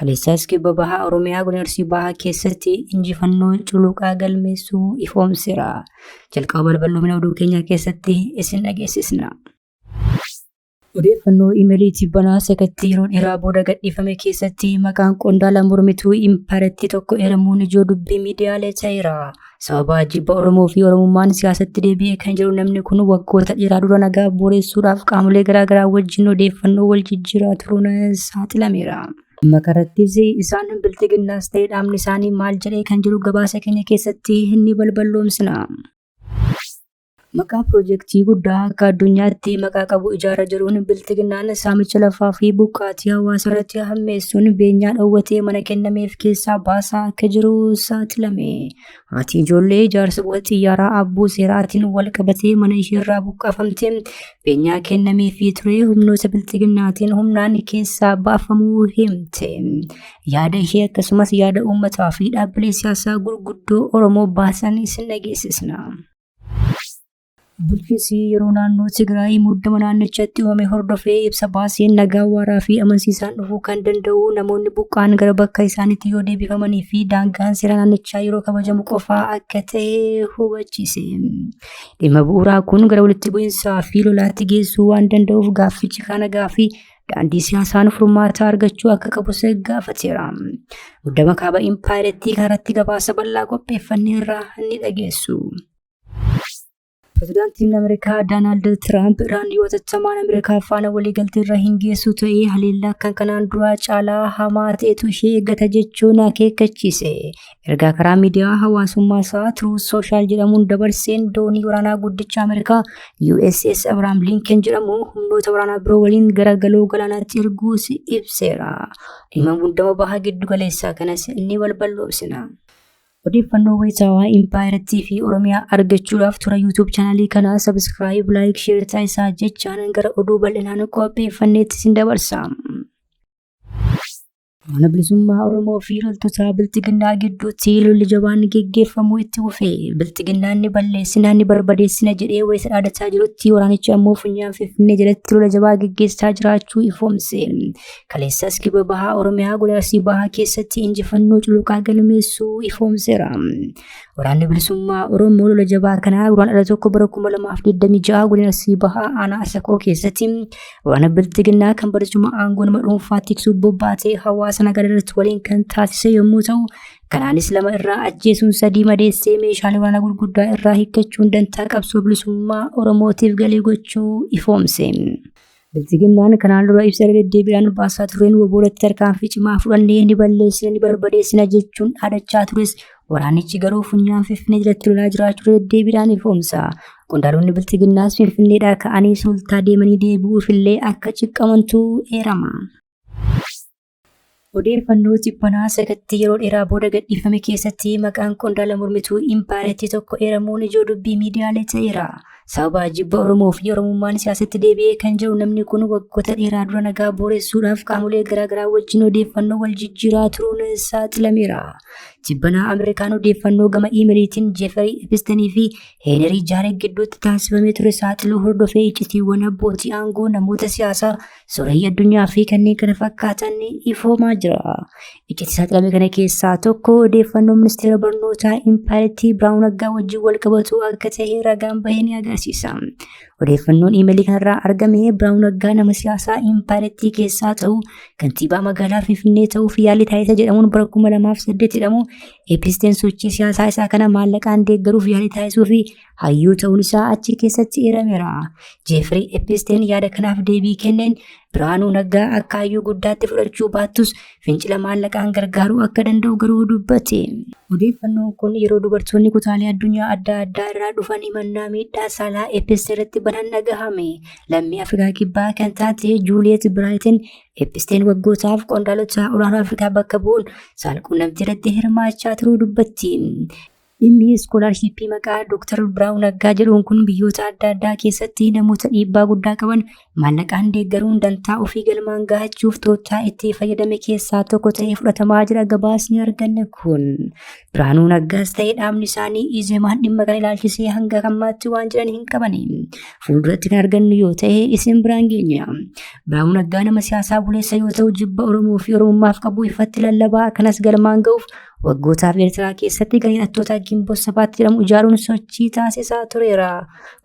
Kaleessaas kibba bahaa Oromiyaa godina Arsii bahaa keessatti injifannoo culuqaa galmeessuu ifoomseera. Jalqaba balballoomina oduu keenyaa keessatti isin dhageessisna. Odeeffannoo imeelii tibbanaa sakatti yeroo dheeraa booda gadhiifame keessatti maqaan qondaala mormituu impaayiratii tokko eeramuun ijoo dubbii miidiyaalee ta'eera. Sababa jibba Oromoo fi Oromummaan siyaasatti deebi'ee kan jiru namni kun waggoota dheeraa dura nagaa booreessuudhaaf qaamolee garaagaraa wajjin odeeffannoo wal jijjiiraa turuun saaxilameera. Dhimma kanarrattis isaan bilxiginnaas ta'ee dhaabni isaanii maal jedhee kan jiru gabaasa keenya keessatti ni balballoomsina. Maqaa pirojektii guddaa akka addunyaatti maqaa qabu ijaara jiruun bilxiginnaan saamicha lafaa fi buqqaatii hawaasa irratti hammeessuun beenyaa dhoowwatee mana kennameef keessaa baasaa akka jiru saaxilame. Haati ijoollee ijaarsa buufata xiyyaaraa abbuu seeraatiin wal qabatee mana isheerraa buqqaafamte beenyaa kennameefii ture humnoota bilxiginnaatiin humnaan keessaa baafamuu himte. Yaada ishee akkasumas yaada uummataa fi dhaabbilee siyaasaa gurguddoo Oromoo baasan isin dhageessisna. Bulchiinsi yeroo naannoo Tigraay muddama naannichatti uumame hordofee ibsa baaseen nagaa waaraa fi amansiisaan dhufuu kan danda'u namoonni buqqaan gara bakka isaaniitti yoo deebifamanii fi daangaan seera naannichaa yeroo kabajamu qofaa akka ta'e hubachiise. Dhimma bu'uuraa kun gara walitti bu'iinsaa fi lolaatti geessuu waan danda'uuf gaaffichi kan nagaa fi daandii siyaasaan furmaataa argachuu akka qabus gaafateera. Muddama kaaba impaayerattii kanarratti gabaasa bal'aa qopheeffannee irraa ni dhageessu. Pirezidaantiin Ameerikaa Doonaald Tiraamp Iraan yoo tattamaan Ameerikaa faana waliigaltee irra hin geessu ta'ee haleellaa kan kanaan duraa caalaa hamaa ta'etu ishee eeggata jechuun akeekkachiise. Ergaa karaa miidiyaa hawaasummaa isaa Truth Social jedhamuun dabarseen doonii waraanaa guddicha Ameerikaa USS Abraham Lincoln jedhamu humnoota waraanaa biroo waliin gara galoo galaanaatti erguus ibseera. Dhimma muddama baha giddu galeessaa kanas ni balballoomsina. Odeeffannoo wayitaawaa impaayerattii fi Oromiyaa argachuudhaaf tura YouTube chaanalii kanaa sabiskiraayib, laayik, sheer taasisaa jechaan gara oduu bal'inaan qopheeffanneetti sin dabarsa. Mana bilisummaa Oromoo fi loltoota bilxiginnaa gidduutti lolli jabaan geggeeffamuu itti fufee bilxiginnaan ni balleessina ni barbadeessina jedhee wayita dhaadataa jirutti waraanichi ammoo funyaan finfinnee jalatti lola jabaa geggeessaa jiraachuu ifoomse. Kaleessas kibba bahaa Oromiyaa godaarsii bahaa keessatti injifannoo culuqaa galmeessuu ifoomseera. Waraanni bilisummaa Oromoo lola jabaa kanaa guraan dhala tokko bara 2026 godaarsii bahaa aanaa Asakoo keessatti Waraana biltiginnaa kan barcuma aangoo nama dhuunfaa tiksuuf bobbaatee hawaasa nagaa irratti waliin kan taasise yommuu ta'u, kanaanis lama irraa ajjeesuun sadii madeessee meeshaalee waraanaa gurguddaa irraa hiikkachuun dantaa qabsoo bilisummaa Oromootiif galii gochuu ifoomse. Biltiginnaan kanaan dura ibsa irra deddeebiidhaan baasaa tureen waboo irratti tarkaanfii cimaa fudhannee ni balleessina ni barbadeessina jechuun dhaadachaa tures Waraanichi garuu funyaan Finfinnee jalatti lolaa jiraachuu deddeebiidhaan ifoomsa. Qondaalonni biltiginnaas Finfinneedhaa ka'anii sultaa deemanii deebi'uufillee akka ciqqamantu eerama. Odeeffannoo tibbanaa sakatti yeroo dheeraa booda gadhiifame keessatti maqaan qondaala mormituu impaayerattii tokko eeramuun ijoo dubbii miidiyaalee ta'eera. Sababa jibba Oromoo fi Oromummaan siyaasatti deebi'ee kan jiru namni kun waggoota dheeraa dura nagaa booressuudhaaf qaamolee garaagaraa wajjin odeeffannoo wal jijjiiraa turuun saaxilameera. Jibbanaa Ameerikaan odeeffannoo gama iimeliitiin Jeefarii Epistanii fi Heenerii Jaaree gidduutti taasifamee ture saaxiluu hordofee iccitiiwwan abbootii aangoo namoota siyaasaa Sooreyyi addunyaa fi kanneen kana fakkaatan ifoomaa jira. Iccitii saaxilamee kana keessaa tokko odeeffannoo ministeera barnootaa impaayerattii Biraawun Aggaa wajjin wal qabatu akka ta'e ragaan bahee ni agarsiisa. Odeeffannoon iimeelii kanarraa argame Biraawun Aggaa nama siyaasaa impaayerattii keessaa ta'u kantiibaa magaalaa Finfinnee ta'uuf yaalii taasisa jedhamuun bara 2008 hidhamu eepisteen sochii siyaasaa isaa kana maallaqaan deeggaruuf yaalii taasisuu fi hayyuu ta'uun isaa achi keessatti eerameera. Jeefrii Episteen yaada kanaaf deebii kenneen Biraanuu Naggaa akka hayyuu guddaatti fudhachuu baattus fincila maallaqaan gargaaruu akka danda'u garuu dubbate. Odeeffannoon kun yeroo dubartoonni kutaalee addunyaa adda addaa irraa dhufan himannaa miidhaa saalaa Episte irratti banan dhagahame. Lammii Afrikaa Kibbaa kan taate Juuliyeet Biraayitin Episteen waggootaaf qondaalota olaanoo Afrikaa bakka bu'uun saalquunnamtii irratti hirmaachaa turuu dubbatti. Dhimmi iskoolaarshiippii maqaa Dooktar Biraawuu Naggaa jedhuun kun biyyoota adda addaa keessatti namoota dhiibbaa guddaa qaban maallaqaan deeggaruun dantaa ofii galmaan gahachuuf tooftaa itti fayyadame keessaa tokko ta'ee fudhatamaa jira gabaasni arganne kun. Biraanuu Naggaas ta'ee dhaabni isaanii Izemaan dhimma kana ilaalchisee hanga ammaatti waan jedhan hin qabani. Fuulduratti kan argannu yoo ta'e isin biraan geenya. Biraanuu Naggaa nama siyaasaa buleessa yoo ta'u jibba Oromoo fi Oromummaaf qabu ifatti lallabaa kanas galmaan ga'uuf Waggootaaf Eertiraa keessatti garee hidhattootaa Gimboo Sabaatti jedhamu ijaaruun sochii taasisaa tureera.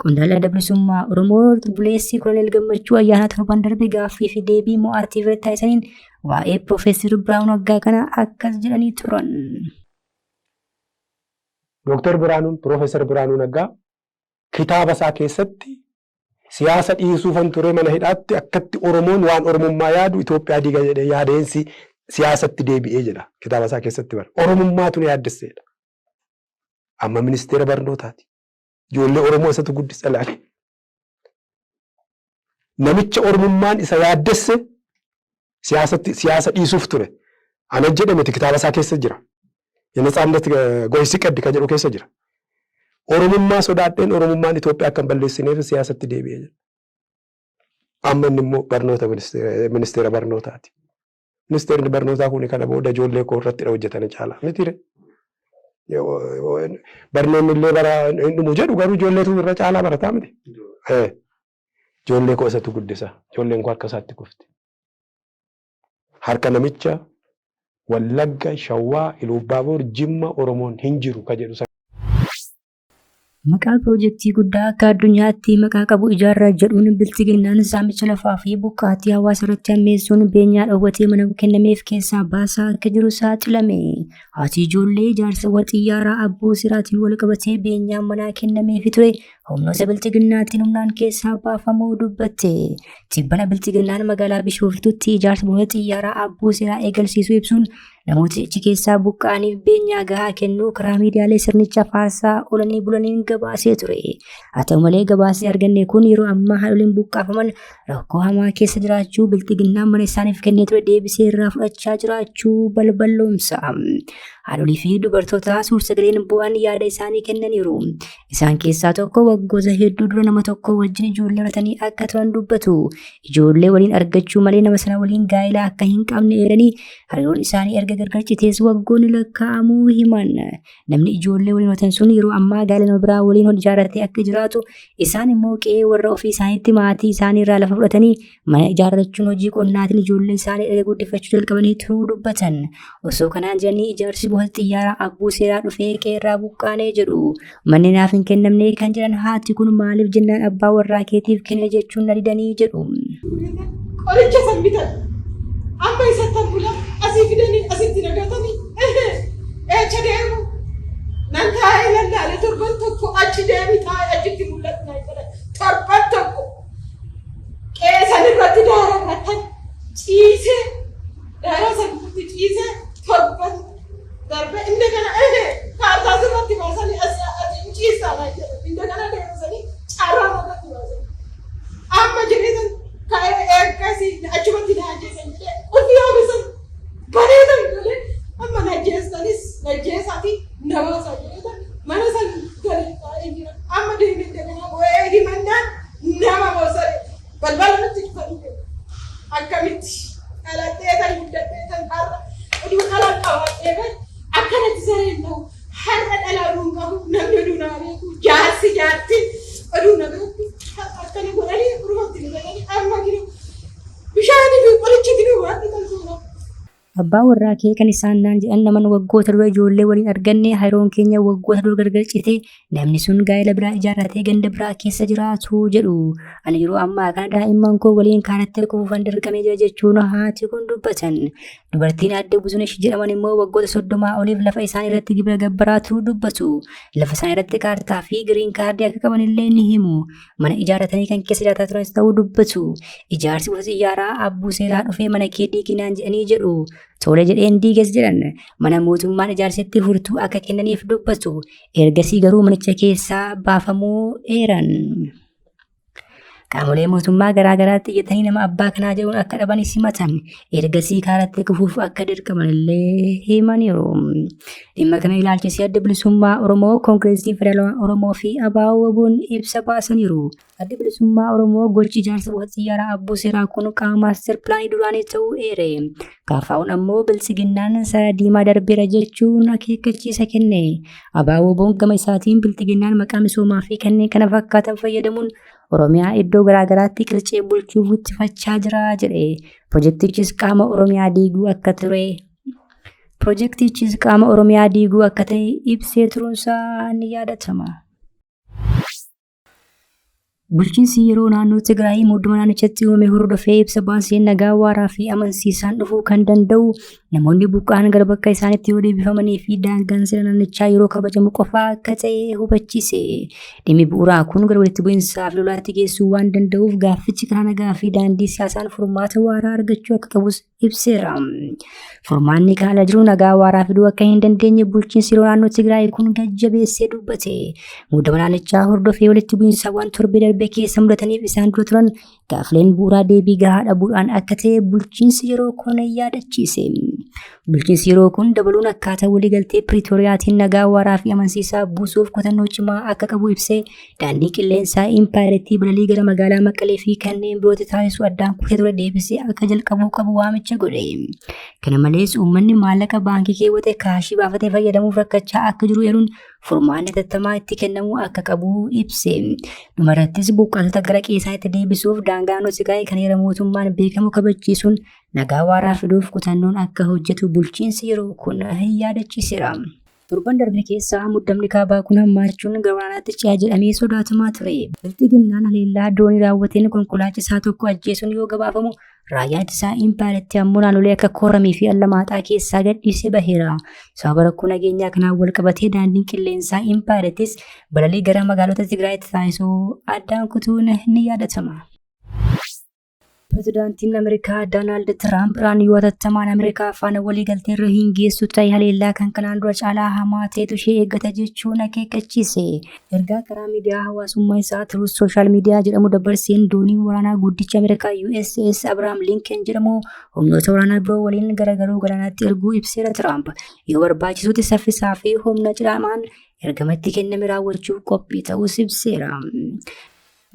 Qondaalli Adda Bilisummaa Oromoo buleessii Koloneel Gammachuu ayyaana torban darbe gaaffii fi deebii mo'aatti irratti taasisaniin waa'ee Piroofeesar Biraanuu Naggaa kana akkas jedhanii turan. Dooktar Biraanuun Piroofeesar Biraanuu Naggaa kitaaba isaa keessatti Siyaasa dhiisuufan ture mana hidhaatti akkatti Oromoon waan Oromummaa yaadu Itoophiyaa diiga jedhee yaadeen si, siyaasatti deebi'ee jedha kitaaba isaa keessatti bara. Oromummaatu na yaaddesseedha. Amma ministeera barnootaati. Ijoollee Oromoo isatu guddisa ilaale. Namicha Oromummaan isa yaaddesse siyaasatti siyaasa dhiisuuf ture. An ajjedhe miti kitaaba isaa keessa jira. Yenetsaannet goysi qeddi ka jedhu keessa jira. Oromummaa sodaadheen Oromummaan Itoophiyaa akka hin balleessineef siyaasatti deebi'e jedha. Amma inni immoo barnoota ministeera ministeera barnootaati. Ministeerri barnootaa kun kana booda ijoollee koo irrattidha hojjetana caalaa mitiire. Barnoonni illee bara hin dhumu jedhu garuu ijoolleetu irra caalaa barataa miti. Eh, Ijoollee koo isatu guddisa. Ijoolleen koo harka isaatti kufti. Harka namicha Wallagga, Shawaa, Iluubbaaboor, Jimma, Oromoon hin jiru ka jedhu sana. Maqaa pirojektii guddaa akka addunyaatti maqaa qabu ijaarra jedhuun biltiginnaan saamicha lafaa fi buqqaatii hawaasa irratti hammeessuun beenyaa dhoowwatee mana kennameef keessaa baasaa akka jiru saaxilame. Haati ijoollee ijaarsa waxiyyaaraa abboo siraatiin wal qabatee beenyaa manaa kennameefi ture humnoota bilxiginnaatiin humnaan keessaa baafamuu dubbatte. Tibbana bilxiginnaan magaalaa Bishooftuutti ijaarsa buufata xiyyaaraa abbuu seeraa eegalsiisuu ibsuun namoota achi keessaa buqqa'aniif beenyaa gahaa kennuu karaa miidiyaalee sirnicha faarsaa oolanii bulaniin gabaasee ture. Haa ta'u malee gabaasni arganne kun yeroo ammaa haadholiin buqqaafaman rakkoo hamaa keessa jiraachuu bilxiginnaan mana isaaniif kennee ture deebisee irraa fudhachaa jiraachuu balballoomsa. Haadholii fi dubartoota suursagaleen bu'an yaada isaanii kennaniiru. Isaan keessaa tokko waggoota hedduu dura nama tokko wajjin ijoollee horatanii akka turan dubbatu. Ijoollee waliin argachuu malee nama sana waliin gaa'ela akka hin qabne eeranii hariiroon isaanii erga gargar citees waggoonni lakkaa'amuu himan. Namni ijoollee waliin horatan sun yeroo ammaa gaa'ela nama biraa waliin hojii ijaarratee akka jiraatu isaan immoo qe'ee warra ofii isaaniitti maatii isaanii irraa lafa fudhatanii Mana ijaarrachuun hojii qonnaatiin ijoollee isaanii erga guddifachuu jalqabanii turuu dubbatan. Osoo kanaan jiranii ijaarsi buufata xiyyaaraa abbuu seeraa dhufee qeerraa buqqaanee jedhu. Manni naaf hin kennamne kan jedhan haati kun maaliif jennaan abbaa warraa keetiif kenne jechuun na didanii jedhu. Qoricha san bitan. Amma isa tan bula asii fidanii asitti nagatanii. Eecha deemu. Nan taa'ee lallaale torban tokko achi deemi taa'ee achitti mul'atu na jedhan. Torban tokko. qe'ee san irratti daararratan ciisee daaraa san irratti ciisee torban darbe inni kana ehe kaartaa sirratti baasanii asii ati hin ciistaa naan jedhe inni kana deebisanii carraa irratti baasanii amma jedhee san ka'ee eeggasii achumatti na ajjeesan jedhee ofii oomishan bareedan galee amma najjeessanis najjeessaa fi nabaasaa jedheetan mana san gale taa'ee jira amma deemee daganaa boo'ee himannaan nama boosare balbala nutti dhufanii deemu akkamitti dhaladheetan guddadheetan har'a oduu dhalaan qabaadhee bee akkanatti sareen ta'u har'a dhalaa duun qabu namni oduu naa beeku jaarsi jaartiin oduu na beeku har'a akkana godhanii urmatti na jedhanii amma jiru Bishaanii fi qorichi itti dhumu akka tolchu godha. Abbaa warraa kee kan isaan naan jedhan naman waggoota dura ijoollee waliin arganne hariroon keenya waggoota dura gargar cite namni sun gaa'ela biraa ijaarratee ganda biraa keessa jiraatu jedhu. Ani yeroo ammaa kana daa'imman koo waliin kaarattee kufuufan dirqamee jira jechuun haati kun dubbatan. Dubartiin aadde Buzunesh jedhaman immoo waggoota soddomaa oliif lafa isaan irratti gibira gabbaraatu dubbatu. Lafa isaan irratti kaartaa fi giriin kaardii akka qaban illee ni himu. Mana ijaaratanii kan keessa jiraataa turanis ta'uu dubbatu. Ijaarsi gosa xiyyaaraa abbuu seeraa dhufee mana kee diiginaan jedhanii jedhu. Tole jedheen diigas jedhan. Mana mootummaan ijaarsetti furtuu akka kennaniif dubbatu. Ergasii garuu manicha keessaa baafamuu eeran. Qaamolee mootummaa garaa garaatti iyyatanii nama abbaa kanaa jedhuun akka dhaban simatan. ergasii kaaratti kufuuf akka dirqaman illee himaniiru. Dhimma kana ilaalchisee adda bilisummaa Oromoo, Koongireesii Federaalawaa Oromoo fi ABO waboon ibsa baasaniiru. Adda bilisummaa Oromoo gochi ijaarsa buufata xiyyaaraa abbuu seeraa kun qaama maaster pilaanii duraanii ta'uu eere. Kaafaa'uun ammoo biltsiginnaan sara diimaa darbeera jechuun akeekkachiisa kenne. ABO waboon gama isaatiin biltsiginnaan maqaa misoomaa fi kanneen kana fakkaatan fayyadamuun Oromiyaa iddoo garaagaraatti qircee bulchuu guddifachaa jira jedhe. Pirojektichis qaama Oromiyaa diiguu akka ture Pirojektichis qaama Oromiyaa diiguu akka ta'e ibsee turuunsaa ni yaadatama. Bulchiinsi yeroo naannoo Tigraay muddama naannichatti uumame hordofee ibsa baaseen nagaa waaraa fi amansiisaan dhufuu kan danda'u Namoonni buqqa'an gara bakka isaanitti yoo deebifamanii fi daangaan seera naannichaa yeroo kabajamu qofaa akka ta'e hubachiise. Dhimmi bu'uuraa kun gara walitti bu'insaa fi lolaatti geessuu waan danda'uuf gaaffichi karaa nagaa fi daandii siyaasaan furmaata waaraa argachuu akka qabus ibseera. Furmaanni kaala jiru nagaa waaraa fiduu akka hin dandeenye bulchiinsi yeroo naannoo Tigraay kun gajjabeessee dubbate. Muudama naannichaa hordofee walitti bu'insaawwan torbee darbe keessa mudataniif isaan dura turan Gaafleen bu'uuraa deebii gahaa dhabuudhaan akka ta'e bulchiinsi yeroo kun yaadachiise. Bulchiinsi yeroo kun dabaluun akkaataa waliigaltee Piriitooriyaatiin nagaa waaraa fi amansiisaa buusuuf kutannoo cimaa akka qabu ibsee daandii qilleensaa impaayerettii balalii gara magaalaa Maqalee fi kanneen birootti taasisu addaan kutee ture deebisee akka jalqabuu qabu waamicha godhe. Kana malees uummanni maallaqa baankii keewwate kaashii baafatee fayyadamuuf rakkachaa akka jiru eeruun furmaanni hatattamaa itti kennamuu akka qabu ibse. Dhumarrattis buqqaatota gara qe'eesaatti deebisuuf daangaa naannoo Tigraay kan heera mootummaan beekamu kabachiisuun nagaa waaraa fiduuf kutannoon akka hojjetu bulchiinsi yeroo kun yaadachiiseera. Torban darbe keessa muddamni kaabaa kun hammaachuun gabanaatti ce'a jedhamee sodaatamaa ture. Bilxiginnaan haleellaa doonii raawwateen konkolaachisaa tokko ajjeesuun yoo gabaafamu Raayyaan ittisaa impaayeritti ammoo naannolee akka Kooramii fi Allamaaxaa keessaa gadhiisee baheera. Sababa rakkoo nageenyaa kanaan wal qabatee daandiin qilleensaa impaayerittis balalii gara magaalota Tigraayitti taasisuu addaan kutuun ni yaadatama. Pirezidaantiin Ameerikaa Doonaald Tiraamp Iraan yoo tattamaan Ameerikaa faana waliigaltee irra hin geessu ta'e haleellaa kan kanaan dura caalaa hamaa ta'etu ishee eeggata jechuun akeekkachiise. Ergaa karaa miidiyaa hawaasummaa isaa Truth Social Media jedhamu dabarseen dooniin waraanaa guddicha Ameerikaa USS Abraham Lincoln jedhamu humnoota waraanaa biroo waliin garagaruu galaanaatti erguu ibseera Tiraamp. Yoo barbaachisutti saffisaa fi humna cidhaamaan ergama itti kenname raawwachuuf qophii ta'uus ibseera.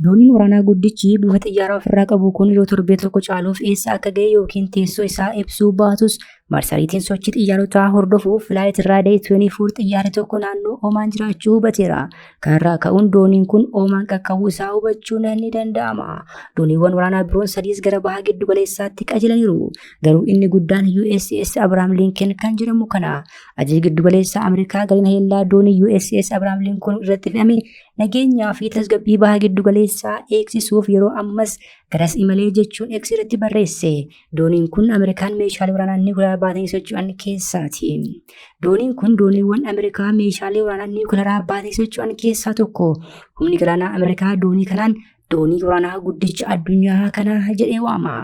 Dooniin waraanaa guddichi buufata xiyyaaraa ofirraa qabu kun yoo torbee tokko caaluuf eessa akka ga'e yookiin teessoo isaa ibsuu baatus marsariitiin sochii xiyyaarotaa hordofuuf Flight Radar 24 xiyyaarri tokko naannoo Oomaan jiraachuu hubateera. Kanarraa ka'uun dooniin kun Oomaan qaqqabuu isaa hubachuun ni danda'ama. Dooniiwwan waraanaa biroon sadiis gara baha giddu galeessaatti qajeelaniiru. Garuu inni guddaan USS Abraham Lincoln kan jedhamu kana. Ajajni giddu galeessaa Ameerikaa gareen haleellaa doonii USS Abraham Lincoln irratti fe'ame Nageenyaa fi tasgabbii baha giddu galeessaa eegsisuuf yeroo ammas garas imalee jechuun X irratti barreesse. Dooniin kun Ameerikaan meeshaalee waraanaa niwukilaraa baatanii socho'an keessaati. Dooniin kun dooniiwwan Ameerikaa meeshaalee waraanaa niwukilaraa baatanii socho'an keessaa tokko. Humni galaanaa Ameerikaa doonii kanaan doonii waraanaa guddicha addunyaa kana jedhee waama.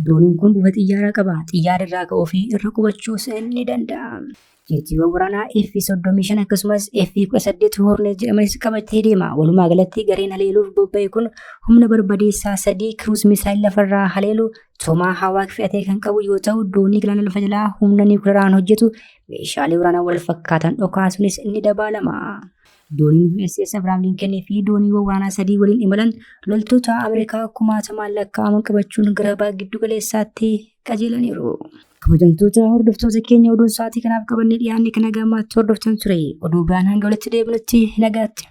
Dooniin kun buufata xiyyaaraa qaba. Xiyyaara irraa ka'uu fi irra qubachuus ni danda'a. Jeetiiwwan waraanaa F-35 akkasumas F-18 Hornet jedhamanis qabatee deema. Walumaa galatti gareen haleeluuf bobba'e kun humna barbadeessaa sadii kiruus misaayil lafarraa haleelu toomaa hawaak fe'atee kan qabu yoo ta'u doonii galaana lafa jalaa humna niwukilaraan hojjetu meeshaalee waraanaa wal fakkaatan dhokaasuunis ni dabaalama. Dooniin USS Abrahaam Lincoln fi dooniiwwan waraanaa sadii waliin imalan loltoota Ameerikaa kumaatamaan lakkaa'aman qabachuun gara baha giddugaleessaatti qajeelaniiru. Kabajamtoota hordoftoota keenya oduun sa'aatii kanaaf qabannee dhiyaanne kan nagaa ammaatti hordoftan ture. Oduu biraan hanga walitti deebinutti nagaatti.